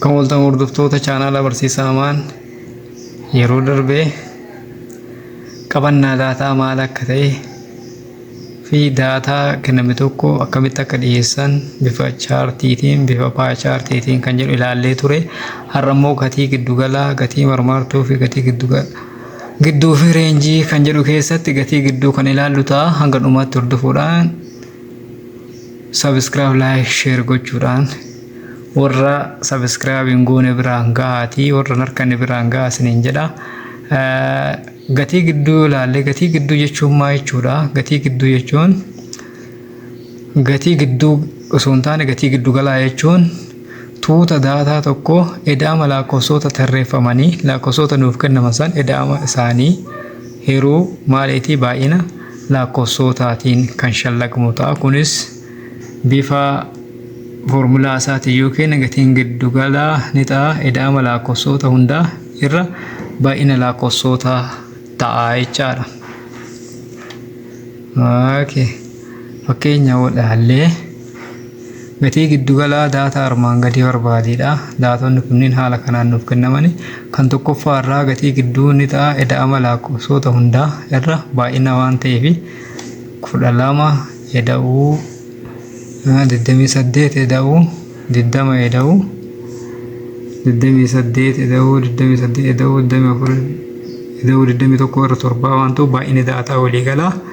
Kan waltan hordoftoota chaanaala barsiisaa Amaan yeroo darbe qabannaa daataa maal akka ta'e fi daataa kenname tokko akkamitti akka dhiyeessan bifa chaartiitiin bifa paa chaartiitiin kan jedhu ilaallee ture har'a immoo gatii giddugalaa gatii marmaartuu fi gatii giddugala gidduu fi reenjii kan jedhu keessatti gatii gidduu kan ilaallu ta'a hanga dhumaatti hordofuudhaan Subscribe, like, share gochuudhaan warra subscribe hin goone biraan ga'aatii warra narkanne biraan ga'aa isiniin jedha. Eh, Gatii gidduu yoo ilaalle gatii gidduu jechuun maa jechuudha? Gatii gidduu jechuun gatii gidduu osoo hin taane gatii giddu galaa jechuun tuuta daataa tokko edaama lakkoofsota tarreeffamanii lakkoofsota nuuf kennaman san edaama isaanii Hiruu maaliitii baay'ina laakkofsootaatiin kan shallagmu ta'a. Kunis bifa foormulaa isaatiin yoo keenya gatiin giddugalaa ni ta'a. Ida'ama laakkofsoota hundaa irra baay'ina laakkofsoota ta'a jechaadha. Okay. Fakkeenya yoo ilaalle. Gatii giddugalaa daataa armaan gadii barbaadi dha. Daatonni kunniin haala kanaan nuuf kennamani. Kan tokkoffaa irraa gatii gidduu ni ta'a eda'ama laakkofsoota hundaa irra baay'ina waan ta'eef 12 eda'uu 28 eda'uu 20 eda'uu 28 eda'uu 28 eda'uu 24 eda'uu 21 irra torbaa waan ta'u baay'inni daataa waliigalaa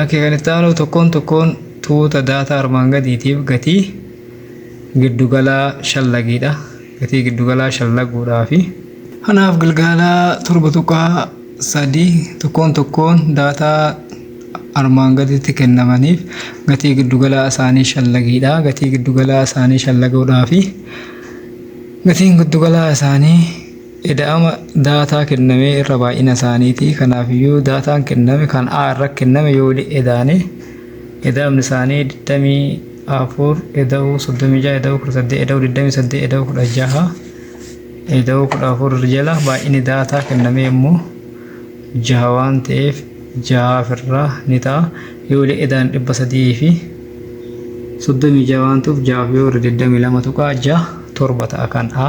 Akka kan itti aanuu tokkoon tokkoon tuuta daataa armaan gadiitiif gatii giddugalaa shallagiidha. Gatii giddugalaa shallaguudhaafi. Kanaaf gilgaala torba tuqaa sadii tokkoon tokkoon daataa armaan gaditti kennamaniif gatii giddugalaa isaanii shallagiidha. Gatii giddugalaa isaanii shallaguudhaafi. Gatiin giddugalaa isaanii Ida'ama daataa kennamee irra baay'ina isaaniiti. Kanaafiyyuu daataan kenname kan A irra kenname yoo wali edaane ida'amni isaanii 24 ida'uu 36 ida'uu 18 ida'uu 28 ida'uu 16 ida'uu 14 irra jala baay'inni daataa kennamee immoo jaha waan ta'eef jahaaf irraa ni ta'a. Yoo wali edaan 300 fi 36 waan ta'uuf jahaaf yoo irra 22 tuqaa jaha torba ta'a kan A.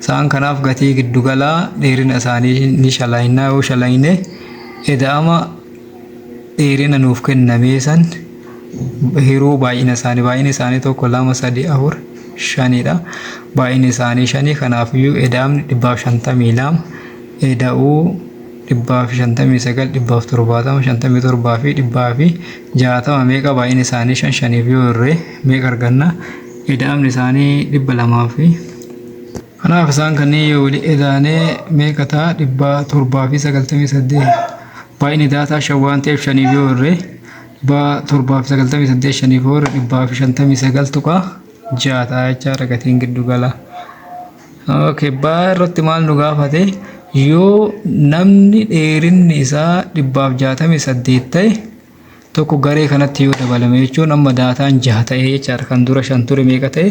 Isaan kanaaf gatii giddugalaa dheerina isaanii ni shalaynaa yoo shalayne eda'ama dheerina nuuf kennamee san hiruu baay'ina isaanii baay'ina isaanii tokko lama sadii afur shanidha baay'ina isaanii shanii kanaafiyyuu eda'amni dhibbaaf shantamii lama eda'uu dhibbaaf shantamii sagal dhibbaaf torbaatama shantamii torbaa fi dhibbaa fi jaatama meeqa baay'ina isaanii shan shaniif yoo irree meeqa arganna eda'amni isaanii dhibba lamaa fi Kanaaf isaan kanneen yoo wali edaane meeqa ta'a dhibbaa torbaa fi sagaltamii saddeet baay'inni daataa shan waan ta'eef shaniif yoo hirre dhibbaa torbaa fi sagaltamii saddeet shaniif yoo hirre dhibbaa fi shantamii sagal tuqaa ja'a ta'a jechaadha gatiin giddu galaa. Okay, baa irratti maal nu gaafate yoo namni dheerinni isaa dhibbaaf jaatamii saddeet ta'e tokko garee kanatti yoo dabalame jechuun amma daataan jaha ta'e jechaadha kan dura shan ture meeqa ta'e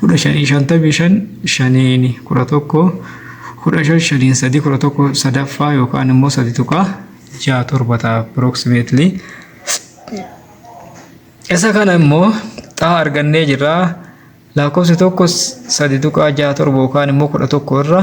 kudha shanii shantamii shan shaniin kudha tokko kudha shan shaniin sadii kudha tokko sadaffaa yookaan immoo sadi tuqaa ja'a torba ta'a approximately. Isa kana immoo xaa argannee jirra lakkoofsi tokko sadi tuqaa ja'a torba yookaan immoo kudha tokko irra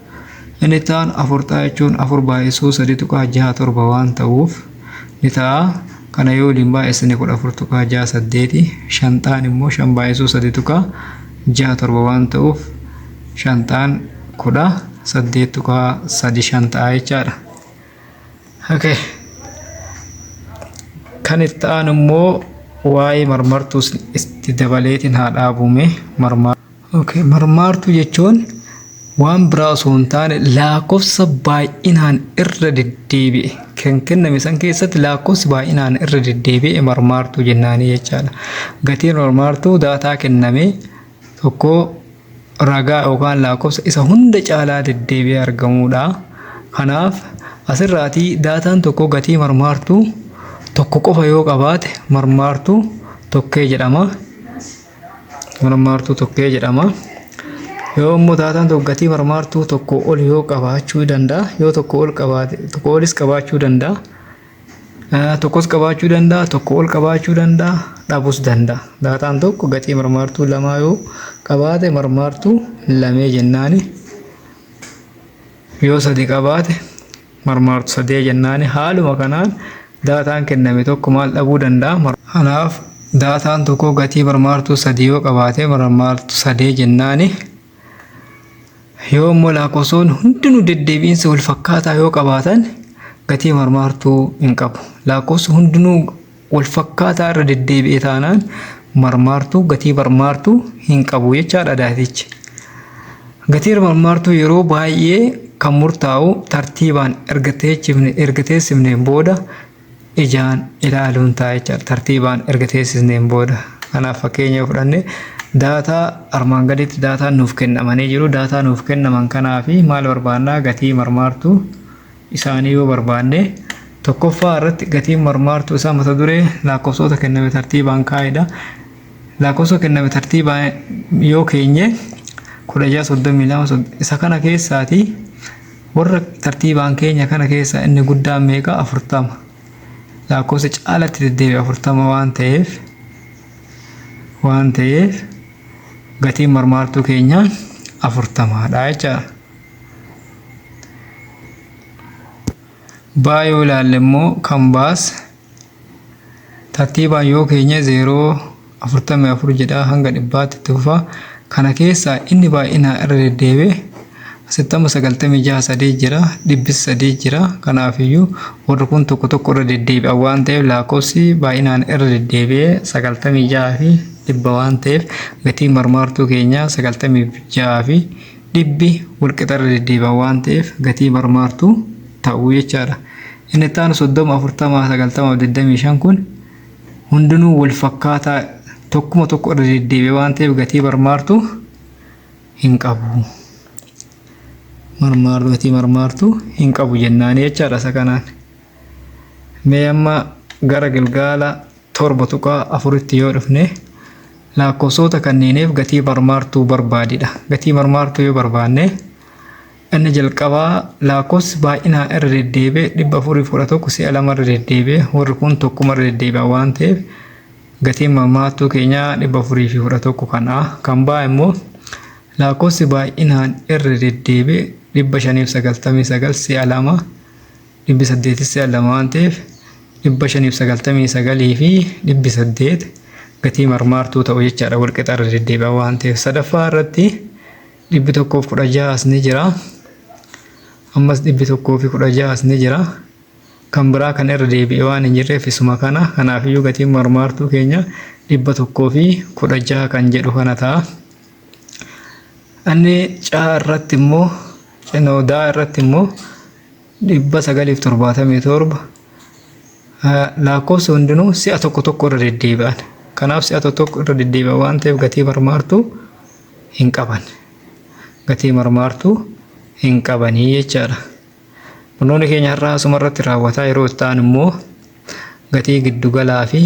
Inni itti aanu afurxaa jechuun afur baay'isuu sadii tuqaa jaha torba waan ta'uuf ni ta'a. Kana yoo waliin baay'isne kudha afur tuqaa jaha saddeeti. Shanxaan immoo shan baay'isuu sadii tuqaa jaha torba waan ta'uuf shanxaan kudha saddeet tuqaa sadi shan ta'a jechaadha. Okay. Kan itti aanu immoo waa'ee marmartuus itti dabaleetiin haa dhaabume marmaa. Okay, marmaartuu jechuun waan biraa osoo hin taane lakkoofsa baay'inaan irra deddeebi'e kan kenname san keessatti lakkoofsi baay'inaan irra deddeebi'e marmaartuu jennaanii jechaadha. Gatiin marmaartuu daataa kenname tokko ragaa yookaan lakkoofsa isa hunda caalaa deddeebi'ee argamudha. Kanaaf asirraatii daataan tokko gatii marmaartuu tokko qofa yoo qabaate marmaartuu tokkee jedhama. marmaartuu tokkee jedhama. Yoo immoo daataan tokko gatii marmaartuu tokko ol yoo qabaachuu danda'a yoo tokko ol qabaate tokko olis qabaachuu danda'a. Eh, Tokkos qabaachuu danda'a tokko ol qabaachuu danda'a dhabus danda'a. Daataan tokko gatii marmaartuu lamaa yoo qabaate marmaartuu lamee jennaani. Yoo sadi qabaate marmaartu sadee jennaani haaluma kanaan daataan kenname tokko maal dhabuu danda'a? Kanaaf daataan tokko gatii marmaartuu sadii yoo qabaate marmaartu sadee jennaani yoo immoo laakofsoonni hundinuu deddeebi'insa wal fakkaataa yoo qabaatan gatii marmaartuu hin qabu. Laakofsi hundinuu walfakkaataa irra deddeebi'e taanaan marmaartuu gatii marmaartuu hin qabu jechaadha daatichi. Gatiin marmaartuu yeroo baay'ee kan murtaa'u tartiibaan erga teechifne erga teessifneen booda ijaan ilaaluun ta'a jechaadha. Tartiibaan erga teessisneen booda. Kanaaf fakkeenya yoo fudhanne daataa armaan gaditti daataan nuuf kennamanii jiru. Daataa nuuf kennaman kanaa fi maal barbaannaa gatii marmaartuu isaanii yoo barbaanne, tokkoffaa irratti gatiin marmaartuu isaa mata duree laakkofsoota kenname tartiibaan kaa'edha. Laakkofsoo kenname tartiibaan yoo keenye 1632 isa kana keessaati warra tartiibaan keenya kana keessaa inni guddaan meeqa 40 laakkofsa caalatti deddeebi'e 40 waan ta'eef waan ta'eef gatiin marmaartuu keenya 40 dha jechaadha. baa yoo ilaalle immoo kan baas tartiibaan yoo keenye zeeroo afurtamii afur jedhaa hanga dhibbaatti itti fufa kana keessaa inni baay'inaa irra deddeebi'e asitti amma sagaltamii jaha sadii jira dhibbis sadii jira kanaafiyyuu warri kun tokko tokko irra deddeebi'a waan ta'eef lakkoofsi baay'inaan irra deddeebi'e sagaltamii jaha fi dhibba waan ta'eef gatii marmaartuu keenyaa sagaltamii jaha fi Dhibbi walqixa irra deddeebi'an waan ta'eef gatii marmaartuu ta'u jechaadha. Inni itti aanu 30, 40, 90 fi 25 kun hundinuu walfakkaataa tokkuma tokko irra deddeebi'e waan ta'eef gatii marmaartuu hin qabu. Marmaartuu gatii marmaartuu hin qabu jennaanii jechaadha isa kanaan. Mee amma gara gilgaala 7.4tti yoo dhufne laakkofsoota kanneeniif gatii marmaartuu barbaadi dha. Gatii marmaartuu yoo barbaanne inni jalqabaa laakkofsi baay'inaan irra deddeebi'e 411 si'a lama irra deddeebi'e warri kun tokkuma irra deddeebi'an waan ta'eef gatiin marmaartuu keenyaa 411 kan A kan B immoo laakkofsi baay'inaan irra deddeebi'e 599 si'a lama dhibbi saddeetis si'a lama waan ta'eef dhibba shanii fi sagaltamii sagalii fi dhibbi saddeet gatii marmaartuu ta'u jechaadha wal qixa irra deddeebi'aa waan ta'eef sadaffaa irratti dhibbi tokkoof kudha ja'as ni jira ammas dhibbi tokkoo fi kudha ja'as ni jira kan biraa kan irra deebi'e waan hin jirreef isuma kana kanaafiyyuu gatiin marmaartuu keenya dhibba tokkoo fi kudha ja'a kan jedhu kana ta'a. Anni caa irratti immoo cinoodaa irratti immoo 977 Lakkoofsi hundinuu si'a tokko tokko irra deddeebi'an. Kanaaf si'a tokko tokko irra deddeebi'an waan ta'eef gatii marmaartuu hin qaban. Gatii marmaartuu hin qabanii jechaadha. Barnoonni keenya har'aa asuma irratti raawwataa yeroo itti aanu immoo gatii giddugalaa fi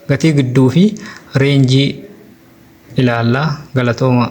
gatii gidduu fi reenjii ilaallaa galatoomaa.